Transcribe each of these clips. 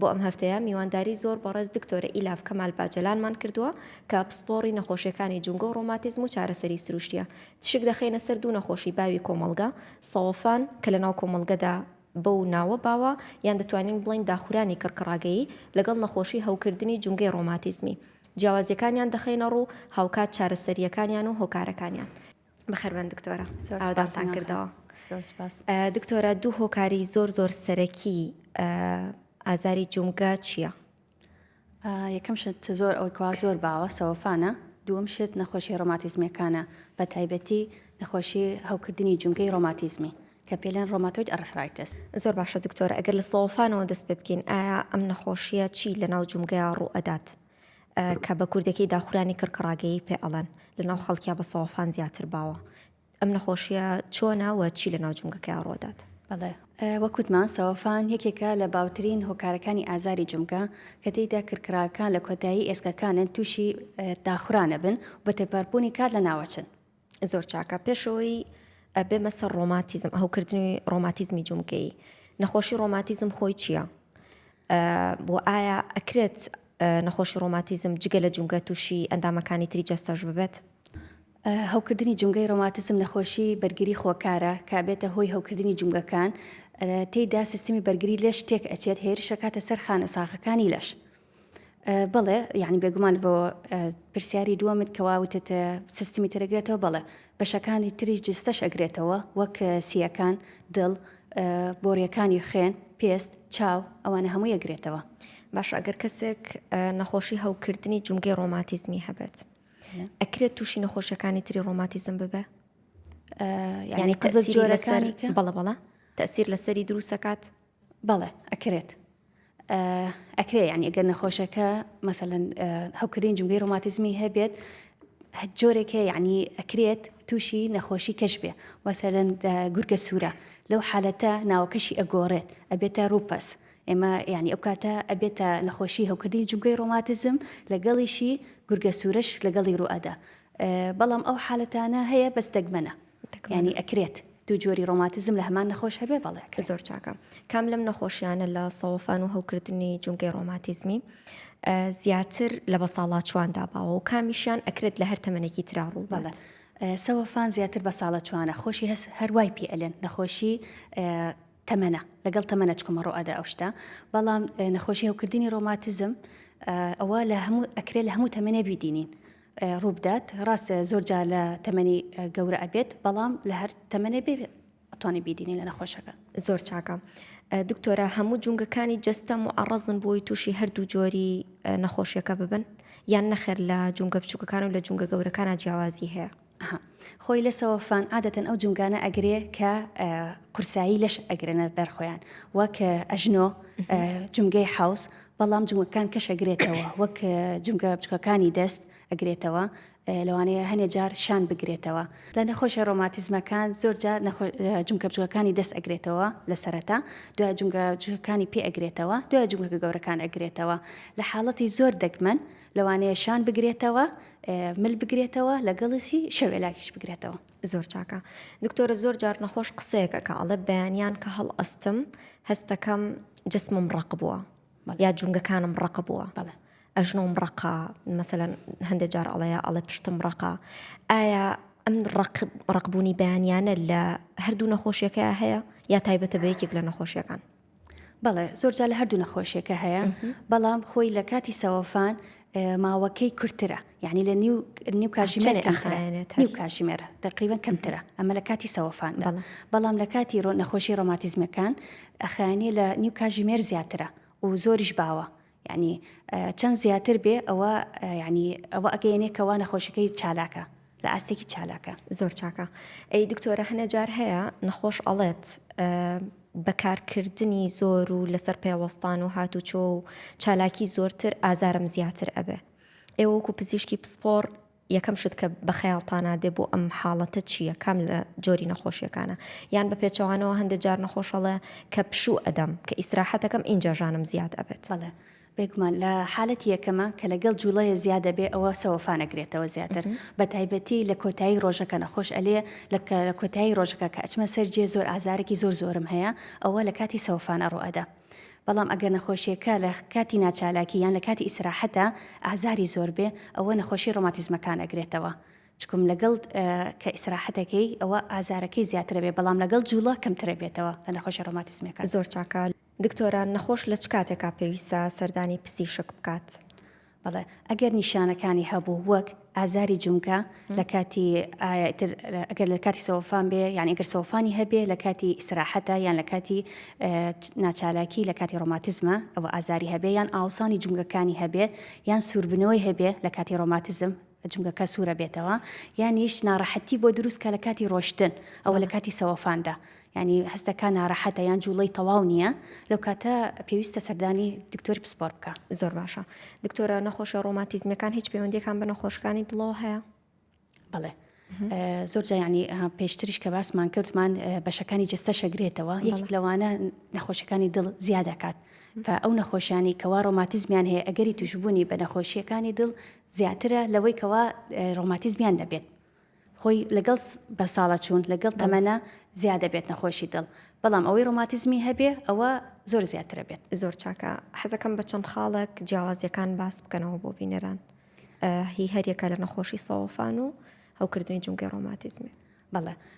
بۆ ئەم هەفتەیە میوانداری زۆر بەڕێز دکتۆرە ئیلاڤ کەمال باجەلانمان کردووە کە پسپۆڕی نەخۆشیەکانی جومگە و ڕۆماتیزم و چارەسەری سروشتیە. تشک دەخەینە سەر دوو نەخۆشی باوی کۆمەڵگە، سەوەفان، کە لەناو کۆمەڵگەدا بەو ناوە باوە، یان دەتوانین بڵێین داخورانی کڕکڕاگەیی، لەگەڵ نەخۆشی هەوکردنی جومگەی ڕۆماتیزمی. جیاوازیەکانیان دەخەینەڕوو، هاوکات چارەسەریەکانیان و هۆکارەکانیان. بەخێربێن دکتۆرە زۆر ئاوادانتان سوپاس مەنان خان کردەوە زۆر سوپاس ئە، دکتۆرە دوو هۆکاری زۆر زۆر سەرەکی ئە، ئازاری جومگە چییە؟ ئا، یەکەم شت زۆر ئەوەی کەوا زۆر باوە سەوەفانە، دووەم شت نەخۆشییە ڕۆماتیزمییەکانە بە تایبەتی نەخۆشی هەوکردنی جومگەی ڕۆماتیزمی کە پێی لێن ڕۆماتۆید ئەڕثرایتس. زۆر باشە دکتۆرە ئەگەر لە سەوەفانەوە دەست پێ بکەین ئایا ئەم نەخۆشییە چی لەناو جومگەیا ڕوو ئەدات؟ کە بە کوردەکەی دا خورانی کڕ کڕاگەیی پێ ئەڵێن لە ناو خەڵکیا بە سەوەفان زیاتر باوە ئەم نەخۆشیە چۆنە وە چی لە ناو جومگەکەیا ڕۆدات؟ بەڵێ وەک وتمان سەوەفان یەکێکە لە باوترین هۆکارەکانی ئازاری جومگە کە تێیدا کڕ کڕاکان لە کۆتایی ئێسکەکانن تووشی داخورانە بن و بە تێپەڕبوونی کات لە ناوەچن زۆر چاکە پێشەوەی بێمە سەر ڕۆماتیزم هەوکردنی ڕۆماتیزمی جومگەی نەخۆشی ڕۆماتیزم خۆی چییە؟ بۆ ئایا ئەکرێت نەخۆشی ڕۆماتیزم جگە لە جومگە تووشی ئەندامەکانی تری جەستەش ببێت؟ هەوکردنی جومگەی ڕۆماتیزم نەخۆشی بەرگری خۆکارە کە بێتە هۆی هەوکردنی جومگەکان تێیدا سیستمی بەرگری لەش تێک ئەچێت هێرشەکاتە سەر خانە ساخەکانی لەش. بەڵێ یعنی بێگومان بۆ پرسیاری دووەمت کەوا وتت سیستمی ترەگرێتەوە بەڵێ بەشەکانی تری جستەش ئەگرێتەوە وەک سیەکان دڵ بۆریەکانی خوێن پێست چاو ئەوانە هەموو یەگرێتەوە باش ئەگەر کەسێک نەخۆشی هەوکردنی جومگەی ڕۆماتیزمی هەبێت ئەکرێت تووشی نەخۆشیەکانی تری ڕۆماتیزم ببێ ینی قزل جۆرەکانی بەڵە بەڵە تەسیر لەسەری دروستەکات بەڵێ ئەکرێت ئەکرێ یانی ئەگەر نەخۆشەکە مەسەەن هەوکردین جمگەی ڕۆماتزمی هەبێت جۆرێکە یعنی ئەکرێت تووشی نەخۆشی کەش بێ وەسەرەن گورگە سوورە لەو حالەتە ناوەکەشی ئەگۆڕێت ئەبێتە ڕوپەس ئێمە ینی ئەو کاتە ئەبێتە نەخۆشی هەوکردنی جمگەی ڕۆماتزم لەگەڵیشی گورگە سوورەش لەگەڵی ڕوئەدا بەڵام ئەو حالەتانە هەیە بەس دەگمەنە یانی ئەکرێت دوو جۆری ڕۆماتزم لە هەمان نەخۆش هەبێ بەڵێ ئەکرێت. زۆر چاکە کام لەم نەخۆشیانە لە سەوەفان و هەوکردنی جومگەی ڕۆماتیزمی زیاتر لە بەساڵاچواندا باوە و کامیشیان ئەکرێت لە هەر تەمەێکی تررا ڕوو بەڵێ. سەوەفان زیاتر بە ساڵە چوانە خۆشی هەس هەروای پێ ئەلێن نەخۆشی تەمەە لەگەڵ تەمەە چکمە ڕۆئەدا ئەو شتە بەڵام نەخۆشی هەوکردنی ڕۆماتزم ئەوە لە هەموو ئەکرێت لە هەموو تەمەێ بیدینین ڕووبدات ڕاستە زۆر جار لە تەمەنی گەورە ئەبێت بەڵام لە هەر تەمەێ بێ ئەتوانانی بیدینی لە نەخۆشەکە زۆر چاکە دکتۆرە هەموو جونگەکانی جستە معڕزن بۆی تووشی هەردوو جۆری نەخۆشیەکە ببن یان نەخێر لە جونگە بچووکەکان و لە جونگە گەورەکانە جیاوازی هەیە خۆی لە سەوەفان عادەتەن ئەو جونگانە ئەگرێ کە قورسایی لەش ئەگرنە بەرخۆیان وەک ئەژنۆ جونگەی حوس بەڵام جومگەکان کەش ئەگرێتەوە وەک جومگە بچکەکانی دەست ئەگرێتەوە لەوانەیە هەنێ جار شان بگرێتەوە لە نەخۆشە ڕۆماتیزمەکان زۆر جار جومکە بچوەکانی دەست ئەگرێتەوە لە سەرەتا دوای جومگە جوەکانی پێ ئەگرێتەوە دوای جومگە گەورەکان ئەگرێتەوە لە حاڵەتی زۆر دەگمەن لەوانەیە شان بگرێتەوە مل بگرێتەوە لەگەڵیسی شەوێلاکیش بگرێتەوە. زۆر چاکە دکتۆرە زۆر جار نەخۆش قسەیەک ئەکا ئەڵێ بەیانیان کە هەڵ ئەستم هەستەکەم جسمم ڕەق بووە یا جونگەکانم ڕەق بووە بەڵێ ئەژنۆم ڕقا مەسەەن هەندێک جار ئەڵەیە ئەڵێ پشتم ڕقا ئایا ئەم ڕقبوونی بەیانیانە لە هەردوو نەخۆشیەکە هەیە یا تایبەتە بە یەکێک لە نەخۆشیەکان بەڵێ زۆر جا لە هەردوو نەخۆشیەکە هەیە بەڵام خۆی لە کاتی سەوەفان ماوەکەی کورتترە یعنی لە نیو نیو کاژمێر نیو کاژمێر تقریبان کەمترە ئەمە لە کاتی سەوەفان بەڵام لە کاتی ڕۆ نەخۆشی ڕۆماتیزمەکان ئەخیانە لە نیو کاژمێر زیاترە و زۆریش باوە یانی چەند زیاتر بێ ئەوە یانی ئەوە ئەگەیەنێ کەوا نەخۆشەکەی چالاکە لە ئاستێکی چالاکە زۆر چاکە ئەی دکتۆرە هەنە جار هەیە نەخۆش ئەڵێت بەکارکردنی زۆر و لەسەر پێوەستان و هاتوچۆ و چالاکی زۆرتر ئازارم زیاتر ئەبێ ئێوەکو پزیشکی پسپۆڕ یەکەم شت کە بە خەیاڵتانا دێ بۆ ئەم حاڵەتە چییە؟ کام لە جۆری نەخۆشیەکانە؟ یان بە پێچەوانەوە هەندێ جار نەخۆش ئەڵێ کە پشوو ئەدەم، کە ئیستراحەت ئەکەم ئینجا ژانم زیاد ئەبێت. بەڵێ بێگومان لە حالەتی یەکەمە کە لەگەڵ جوڵەیە زیاد ئەبێ ئەوە سەوەفان ئەگرێتەوە زیاتر بە تایبەتی لە کۆتایی ڕۆژەکە نەخۆش ئەلێ لە کۆتایی ڕۆژەکە کە ئەچمە سەر جێ زۆر ئازارێکی زۆر زۆرم هەیە ئەوە لە کاتی سەوەفان ئەڕۆ ئەدا. بەڵام ئەگەر نەخۆشیەکە لە کاتی ناچالاکی یان لە کاتی ئیسراحەتا ئازاری زۆر بێ ئەوە نەخۆشی ڕۆماتیزمەکان ئەگرێتەوە چکم لەگەڵ کە ئیسراحەتەکەی ئەوە ئازارەکەی زیاترە بێ بەڵام لەگەڵ جوڵە کەمترە بێتەوە لە نەخۆشی ڕۆماتیزمەکە. زۆر چاکە دکتۆرە نەخۆش لە چ کاتێکا پێویستە سەردانی پزیشک بکات؟ بەڵێ ئەگەر نیشانەکانی هەبوو وەک ئازاری جومگە لە کاتی ئایتر ئەگەر لە کاتی سەوەفان بێ یان ئەگەر سەوفانی هەبێ لە کاتی ئیسراحەتە یان لە کاتی ناچالاکی لە کاتی ڕۆماتزمە ئەوە ئازاری هەبێ یان ئاوسانی جومگەکانی هەبێ یان سووربنەوەی هەبێ لە کاتی ڕۆماتزم جمگەکە سوورە بێتەوە یانیش ناڕەحەتی بۆ دروستکە لە کاتی ڕۆشتن ئەوە لە کاتی سەوەفاندا یانی هەست دەکا ناڕەحەتە یان جوڵەی تەواو نیە لەو کاتە پێویستە سەردانی دکتۆری پسپۆر بکە. زۆر باشە دکتۆرە نەخۆشە ڕۆماتیزمەکان هیچ پەیوەندیەکان بە نەخۆشەکانی دڵەوە هەیە؟ بڵێ زۆر جایانی پێشتریش کە باسمان کردمان بەشەکانی جستە شەگرێتەوە یەک لەوانە نەخۆشەکانی دڵ زیادەکات کە ئەو نەخۆشیانی کەوا ڕۆماتیزمیان هەیە ئەگەری توشببوونی بە نەخۆشیەکانی دڵ زیاترە لەوەی کەوا ڕۆماتیزمیان نەبێت خۆی لەگەڵ بە ساڵە چوون لەگەڵ تەمەنە زیادە بێت نەخۆشی دڵ بەڵام ئەوەی ڕۆماتیزمی هەبێ ئەوە زۆر زیاترە بێت زۆر چاکە حەزەکەم بە چەند خاڵێک جیاوازیەکان باس بکەنەوە بۆ بینەران هی هەریەکە لە نەخۆشی سەوەفان و هەوکردنی جونگەی ڕۆماتیزمی بەڵێ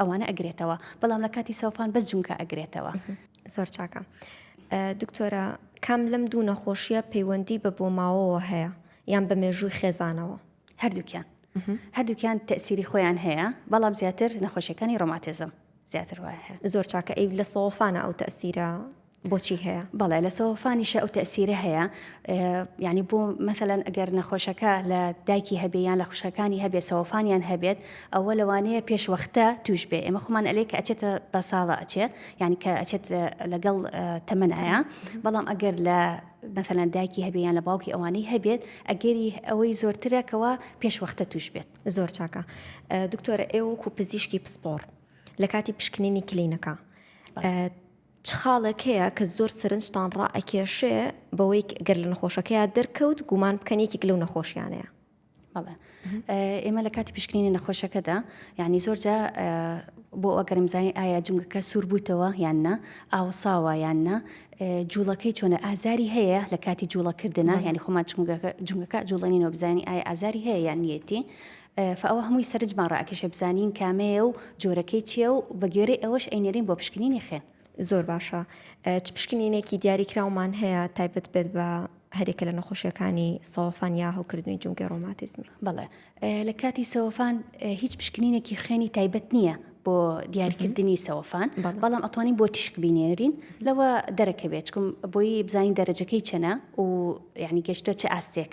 ئەوانە ئەگرێتەوە بەڵام لە کاتی سەوفان بەس جونکە ئەگرێتەوە زۆر چاکە دکتۆرە کام لەم دوو نەخۆشیە پەیوەندی بە بۆ ماوەوە هەیە یان بە مێژووی خێزانەوە هەردووکیان هەردووکیان تەسیری خۆیان هەیە بەڵام زیاتر نەخۆشیەکانی ڕۆماتزم زیاتر وایە زۆر چاکە ئەی لە سەوفانە ئەو تەسیرە بۆچی هەیە؟ بەڵێ لە سەوەفانیشە ئەو تەسیرە هەیە یعنی بۆ مەثلەن ئەگەر نەخۆشەکە لە دایکی هەبێ یان لە خوشەکانی هەبێ سەوەفانیان هەبێت ئەوە لەوانەیە پێشوەختە توش بێ ئێمە خۆمان ئەلێ کە ئەچێتە بە ساڵە ئەچێ یعنی کە ئەچێت لەگەڵ تەمەنایە بەڵام ئەگەر لە مثلەن دایکی هەبێ یان لە باوکی ئەوانەی هەبێت ئەگەری ئەوەی زۆرترە کەەوە پێشوەختە توش بێت زۆر چاکە دکتۆرە ئێوەکو پزیشکی پسپۆڕ لە کاتی پشکنینی کلینەکە چ خاڵێک هەیە کە زۆر سەرنجتان ڕائەکێشێ بەوەی گەر لە نەخۆشەکەیا دەرکەوت گومان بکەن یەکێک لەو نەخۆشیانەیە؟ بەڵێ ئێمە لە کاتی پشکنینی نەخۆشەکەدا یعنی زۆرجا بۆ ئەگەرمزانین ئایا جونگەکە سووربووتەوە یان نا ئاوساوە یان نا جوڵەکەی چۆنە ئازاری هەیە لە کاتی جوڵەکردنا ینی خۆمان جونگەکە جوڵێنینەوە بزانانی ئایا ئازاری هەیە یان نیەتی فە ئەوە هەمووی سەرنجمان ڕائەکێشێ بزانین کامەیە و جۆرەکەی چییە و بە گوێرەی ئەوەش ئەینێرین بۆ پشکنینی خوێن. زۆر باشە. چ پشکنینێکی دیاریکراومان هەیە تایبەت بێت بە هەرێکە لە نەخۆشیەکانی سەوەفان یا هەڵکردنی جومگەی ڕۆماتیزمی؟ بەڵێ. لە کاتی سەوەفان هیچ پشکنینێکی خوێنی تایبەت نییە بۆ دیاریکردنی سەوەفان بەڵام ئەتوانین بۆ تیشک بینێنرین لەوە دەرەکەوێت چکم بۆی بزانین دەرەجەکەی چەنە و یعنی گەشتە چ ئاستێک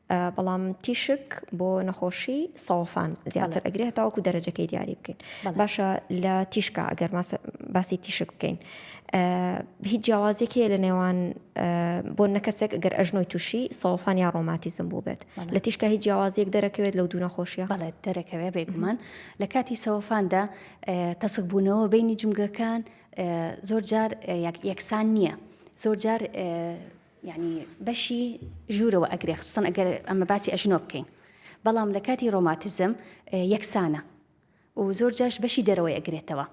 بەڵام تیشک بۆ نەخۆشی سەوەفان زیاتر ئەگرێ هەتاوەکو دەرەجەکەی دیاری بکەین باشە لە تیشکا ئەگەر باسی تیشک بکەین هیچ جیاوازێک هەیە لە نێوان بۆ نەکەسێک گەر ئەژنۆی تووشی سەوەفان یا ڕۆماتیزم بوو بێت لە تیشکە هیچ جیاوازیەک دەرەکەوێت لەو دوو نەخۆشیە بەڵێت دەرەکەوێ بێگومان لە کاتی سەوەفاندا تەسک بوونەوە بینی جمگەکان زۆر جار یەکسان نییە زۆر جار یانی بەشی ژوورەوە ئەگرێ خصوصا ئەگەر ئەمە باسی ئەژنۆ بکەین بەڵام لە کاتی ڕۆماتیزم یەکسانە و زۆر جاش بەشی دەرەوەی ئەگرێتەوە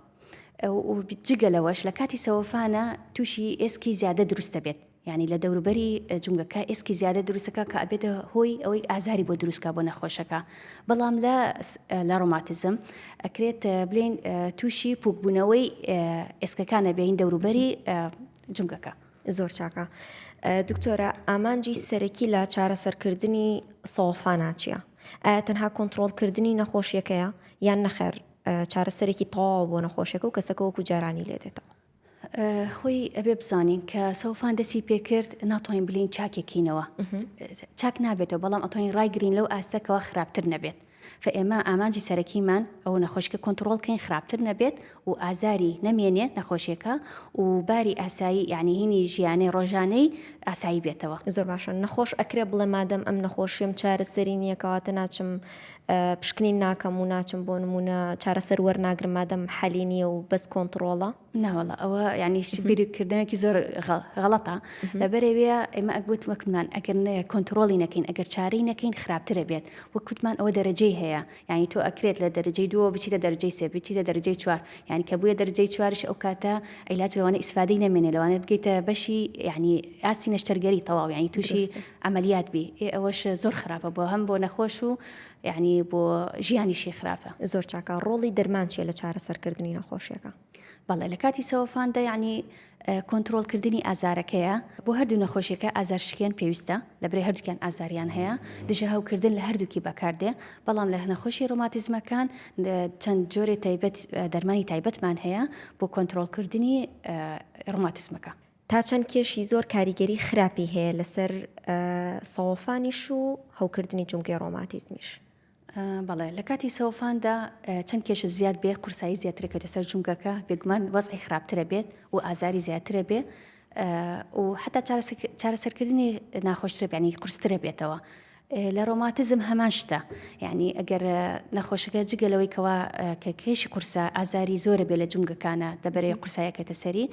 جگە لەوەش لە کاتی سەوەفانە تووشی ئێسکی زیادە دروستە بێت ینی لە دەوروبەری جونگەکە ئێسکی زیادە دروستەکە کە ئەبێتە هۆی ئەوەی ئازاری بۆ دروستکە بۆ نەخۆشەکە بەڵام لە لە ڕۆماتزم ئەکرێت بلین تووشی پوکبوونەوەی ئێسکەکانە بێین دەوروبەری جونگەکە. زۆر چاکە دکتۆرە ئامانجی سەرەکی لە چارەسەرکردنی سەوەفانا چییە؟ ئایا تەنها کۆنتترۆلکردنی نەخۆشیەکەیە یان نەخێر چارەسەرێکی تەواو بۆ نەخۆشیەکە و کەسەکە وەکو جارانی لێدێتەوە. خۆی ئەبێ بزانین کە سەوفان دەسی پێکرد ناتوانین بلین چاکێکینەوە چاک نابێتەوە بەڵام ئەتوانین ڕایگرین لەو ئاستەکەەوە خراپتر نەبێت فئێمە ئامانجی سەرەکیمان ئەوە نەخۆشیکە کۆنتڕۆڵ کەین خراپتر نەبێت و ئازاری نەمێنێ نەخۆشیەکە و باری ئاسایی یانی هینی ژیانەی ڕۆژانەی ئاسایی بێتەوە. زۆر باشە نەخۆش ئەکرێ بڵێ مادەم ئەم نەخۆشیەم چارەسەری نیە کەواتە ناچم پشکنین ناکەم و ناچم بۆ نمونە چارەسەر وەرناگرم مادەم حەلی نیە و بەس کۆنتڕۆڵە؟ ناوەڵە ئەوە یعنی بیری کردنێکی زۆر غەڵەتە لەبەرەوەە ئێمە ئەگوت وەکمان ئەگەر نەیە کۆنتترۆلی نەکەین ئەگەر چارەی نەکەین خراپترە بێت وەکوتمان ئەوە دەرەجەی هەیە یعنی تۆ ئەکرێت لە دەرەجەی دووە بچیتە دەرجەی سێ بچیتە دەرجەی چوار یعنی کە بووە دەرجەی چوارش ئەو کاتە ئەیلاچ لەوانە ئیسفادەی نەمێنێ لەوانێت بگەیتە بەشی یعنی ئاستی نەشتەرگەری تەواو یعنی تووشی ئەعملیات بی ئەوەش زۆر خراپە بۆ هەم بۆ نەخۆش و یانی بۆ ژیانیشی خراپە. زۆر چاکە، ڕۆڵی دەرمان چیە لە چارەسەر کردنی نەخۆشیەکە؟ بەڵێ لە کاتی سەوەفاندا یانی کۆنترۆڵ کردنی ئازارەکەیە، بۆ هەردوو نەخۆشیەکە ئازار شکێن پێویستە، لە برێ هەردووکیان ئازاریان هەیە، دژە هەو کردن لە هەردووکی بەکار دێ، بەڵام لە نەخۆشی ڕۆماتیزمەکان چەند جۆرێ تایبەت دەرمانی تایبەتمان هەیە بۆ کۆنترۆڵ کردنی ڕۆماتیزمەکە. تا چەند کێشی زۆر کاریگەری خراپی هەیە لەسەر سەوەفانیش و هەوکردنی جومگەی ڕۆماتیزمیش. بەڵێ لە کاتی سەوفاندا چەند کێشە زیاد بێ قورسایی زیاترەکەێتە سەر جومگەکە بێگومان وەزعی خراپترە بێت و ئازاری زیاترە بێ و حتا چارەسەرکردنی ناخۆشترە بەنی قرسترە بێتەوە لە ڕۆماتزم هەمان شتە یانی ئەگەر نەخۆشەکە جگە لەوەی کەوا کە کێشی قورسە ئازاری زۆرە بێ لە جومگەکانە دەبەرێ قورسایەکێتە سەری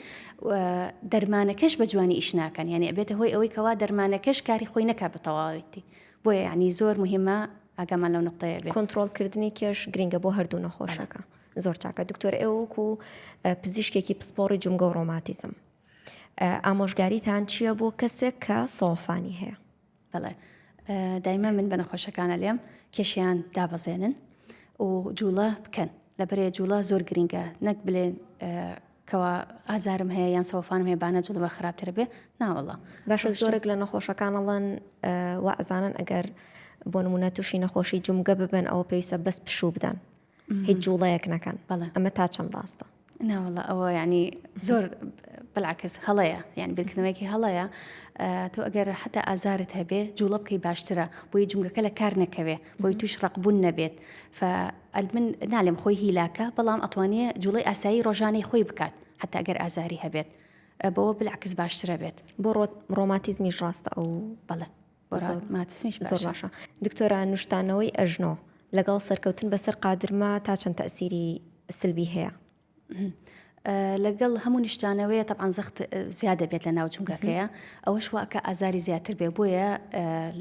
دەرمانەکەش بە جوانی ئیش ناکەن یانی ئەبێتە هۆی ئەوەی کەوا دەرمانەکەش کاری خۆی نەکە بە تەواوەتی بۆیە یعنی زۆر مهمە ئاگامان لەو نقطەیە بێ کۆنتترۆلکردنی کێش گرنگە بۆ هەردوو نەخۆشەکە زۆر چاکە دکتۆر ئێوەک و پزیشکێکی پسپۆڕی جومگە و ڕۆماتیزم ئامۆژگاریتان چییە بۆ کەسێک کە سەوفانی هەیە بەڵێ دایمە من بە نەخۆشەکانە لێم کێشیان دابەزێنن و جوڵە بکەن لەبەرێ جوڵە زۆر گرنگە نەک بلێ کەوا ئازارم هەیە یان سەوفانم هەیە بانە جوڵە خراپتر بێ ناوەڵە باشە زۆرێک لە نەخۆشەکانەڵەن وازانن ئەگەر بۆ نمونە تووشی نەخۆشی جومگە ببن ئەوە پێویستە بەس پشوو بدەن هیچ جوڵەیەک نەکەن بەڵێ ئەمە تا چەند ڕاستە ناوەڵە ئەوە ینی زۆر بەلاکەس هەڵەیە یان بیرکردنەوەیکی هەڵەیە تۆ ئەگەر حتا ئازارت هەبێ جوڵە بکەی باشترە بۆی جونگەکە لە کار نەکەوێ بۆی توش ڕقبوون نەبێت من نالێم خۆی هیلاکە بەڵام ئەتوانێ جوڵی ئاسایی ڕۆژانەی خۆی بکات حتا ئەگەر ئازاری هەبێت بەوە بلعکس باشترە بێت بۆ ڕۆماتیزمیش ڕاستە ئەو بەڵێ زۆر باشە دکتۆرە نوشتانەوەی ئەژنۆ لەگەڵ سەرکەوتن بەسەر قادرمە تا چەند تەسیری سلبی هەیە لەگەڵ هەموو نیشتانەوەیە تەعاان زەخت زیادە بێت لە ناو جونگەکەیە ئەوەش واکە ئازاری زیاتر بێ بۆیە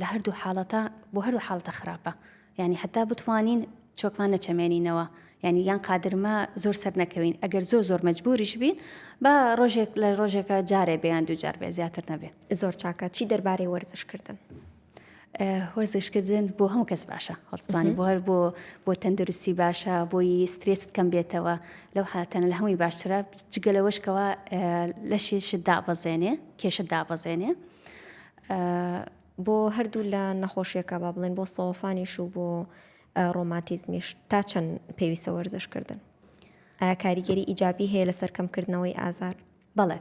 لە هەردوو حاڵەتە بۆ هەروو حاڵتە خراپە یانی حەتا بتوانین چۆکمان نەچەمێنینەوە یانی یان قادرمە زۆر سەر نەکەوین ئەگەر زۆر زۆر مەجبوریش بین بە ڕۆژێک لە ڕۆژێکە جارێ بێیان دووجار بێ زیاتر نەبێ زۆر چاکە چی دەربارەی وەرزشکردن هۆرزشکردن بۆ هەموو کەس باشە هەڵستانی بۆ هەر بۆ بۆ تەندروستی باشە بۆی سترێست کەم بێتەوە لەو حاتەنە لە هەمووی باشترە جگە لەوەشکەوە لەشێشت دابەزێنێ کێشت دابەزێنێ بۆ هەردوو لا نەخۆشیەکە با بڵێن بۆ سەوەفانیش و بۆ ڕۆماتیزمیش تا چەند پێویستە وەرزش کردن ئایا کاریگەری ئیجابی هەیە لەسەر کەمکردنەوەی ئازار بەڵێ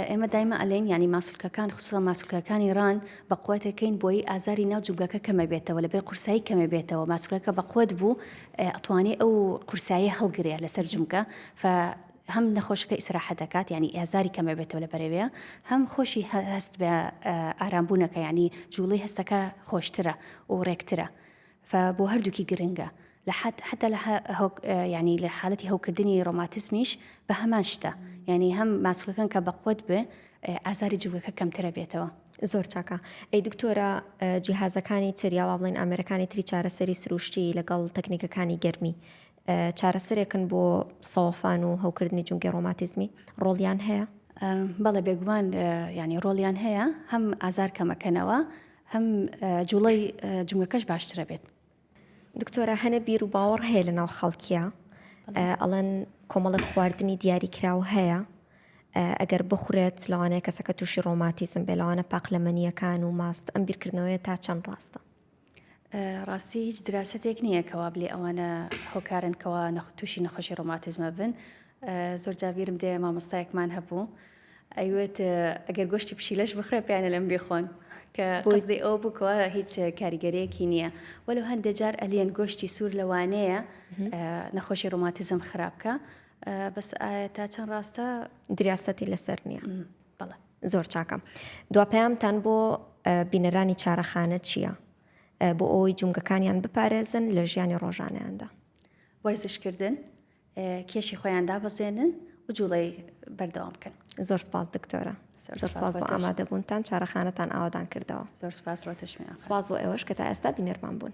ئێمە دایمە ئەلێن ینی ماسولکەکان خصوصا ماسولکەکانی ڕان بە قوتەکەین بۆی ئازاری ناو جوگەکە کەمە بێتەوە لەبێ قورسایی کەمە بێتەوە ماسولەکە بە قوت بوو ئەتوانێ ئەو قورسایی هەڵگرێ لەسەر جمکە هەم نەخۆشەکە ئیسراحەت دەکات یانی ئازاری کەم ئەبێتەوە لە بەرەێە هەم خۆشی هەست بە ئارام بوونەکە یانی جوڵی هەستەکە خۆشترە و ڕێکترە فە بۆ هەردووکی گرنگە لە حد حتا لە ینی لە حالەتی هەوکردنی ڕۆماتسمیش بە هەمان شتە یعنی هەم ماسولەکان کە بەقوت بێ ئازاری جوگەکە کەمترە بێتەوە زۆر چاکە ئەی دکتۆرە جیهازەکانی تر یاوا بڵین ئامرەکانی تری چارەسەری سروشتی لەگەڵ تەکنیکەکانی گەرمی چارەسەرێکن بۆ سەوفان و هەوکردنی جومگەی ڕۆماتیزمی؟ ڕۆڵیان هەیە؟ بەڵێ بێگومان یانی ڕۆڵیان هەیە هەم ئازار کەمەکەنەوە هەم جوڵەی جومگەکەش باشترە بێت دکتۆرە هەنە بیر و باوەڕ هەیە لە ناو خەڵکیە ئەڵەن کۆمەڵک خواردنی دیاری کراو هەیە ئەگەر بخورێت لەوانەیە کەسەکە تووشی ڕۆماتیزم بێ لەوانە پاقلەمەنیەکان و ماست ئەم بیرکردنەوەیە تا چەند ڕاستە ڕاستی هیچ دراسەتێک نییە کە وابلێ ئەوانە هۆکارن کەوا تووشی نەخۆشی ڕۆماتیزمە بن زۆر جابیرم دێ مامۆستایەکمان هەبوو ئەیوێت ئەگەر گۆشتی پشیلەش بخرێ پێیانە لەم بخۆن کە بۆزی ئەو بکەوە هیچ کاریگەرەیەکی نییە وەلو هەندێک جار ئەلیەن گۆشتی سوور لەوانەیە نەخۆشی ڕۆماتیزم خراپکە بەس تا چەند ڕاستە دراستی لەسەر نییە بەڵێ زۆر چاکە دوا پەیامتان بۆ بینەرانی چارەخانە چییە بۆ ئەوەی جومگەکانیان بپارێزن لە ژیانی ڕۆژانیاندا وەرزشکردن کێشی خۆیان دابەزێنن و جوڵی بەردەوام بکەن زۆر سپاس دکتۆرە سپاس بۆ ئامادەبوونتان چارەخانەتان ئاوادان کردەوە زۆر سپاس بۆ تشمی سپاس بۆ ئێوەش کە تا ئێستا بینەرمان بوون.